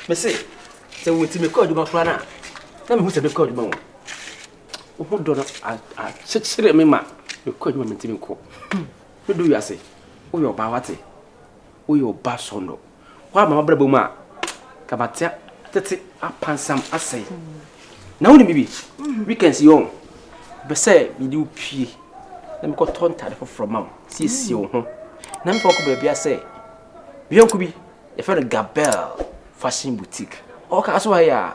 mese sɛ wɔti mekɔ adwuma koraa no a na mehu sɛ mekɔ adwuma wɔ wo ho dɔ no akyekyere me ma mekɔ adwuma mentimi nkɔ medo wiase woyɛ ɔbaa wate woyɛ ɔba sɔnnɔ Woaba m'abrabɔ mu a, ka mate tete apansam asɛe. Na wonim biribi? Weekends yi ɔn, bɛ sɛ mede wo pue na mekɔtɔ ntade foforɔ ma wo, siesie wo ho, na mefa wokɔ baabi a sɛ me yɔnko bi, yɛfrɛ no Gabel Fashion Boutique. Ɔwɔ kaa so ha yi a.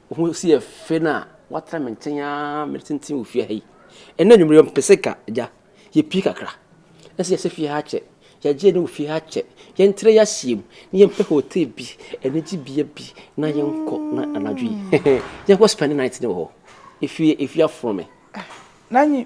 Wo ho si yɛ fɛ no a, woatena me nkyɛn ara mede tenten wɔ fie ha yi. Ɛnna anwummere yɛ mpɛ sɛ ka agya. Yɛpie kakra. Ɛsɛ yɛsɛ fie ha akyɛ. Yɛagye ne wɔ fie ha akyɛ. Yɛntrɛ yɛahyia mu na yɛmpɛ hotel bi, anigye bea bi na yɛnkɔ na anadwo yi. yɛnkɔ spend night ne wɔ hɔ. Efie, efie afono me. Nanyi,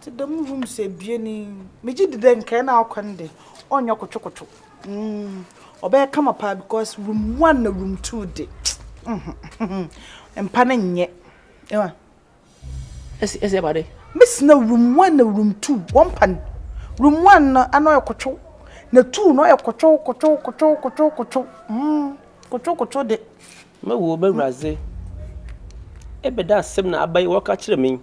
Tse dɛm rooms ebien yi, megye dzi dɛ nkae no a ɔkɔ no de, ɔnnyɛ kotwokotwo. Ɔbɛyɛ kama paa because room one na room two de, mpa no nnyɛ. Ewa. Ese ese ba de. Mese na room one na room two, wɔmpa no. Room one no ano ɔyɛ kotwo, na two no ɔyɛ kotwo kotwo kotwo kotwo kotwo. Kotwo kotwo de. M'awu o, Bɛwuradze, ebɛn asɛm na abayi wɔka kyerɛ me yi?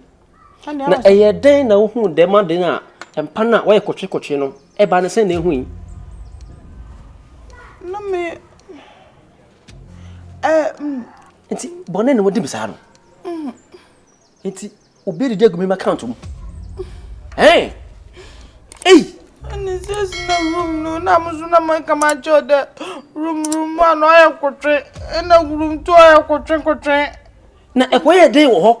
Na ɛyɛ dɛn na wohuu dɛm ade no a mpan a wɔyɛ kotwekotwe no ba no sɛ na ehu yi? Na me ɛ. Nti bɔne na wɔde bisaa no. Nti obi adidi agu me account mu. Ɛn! Ei! Ɛne sɛ si na room no na mo so na mo nka ma kyɛw dɛ room room a na ɔyɛ kotwe ɛna room to ɔyɛ kotwe kotwe. Na ɛkɔ yɛ den wɔ hɔ.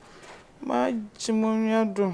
Magye mo nua dom.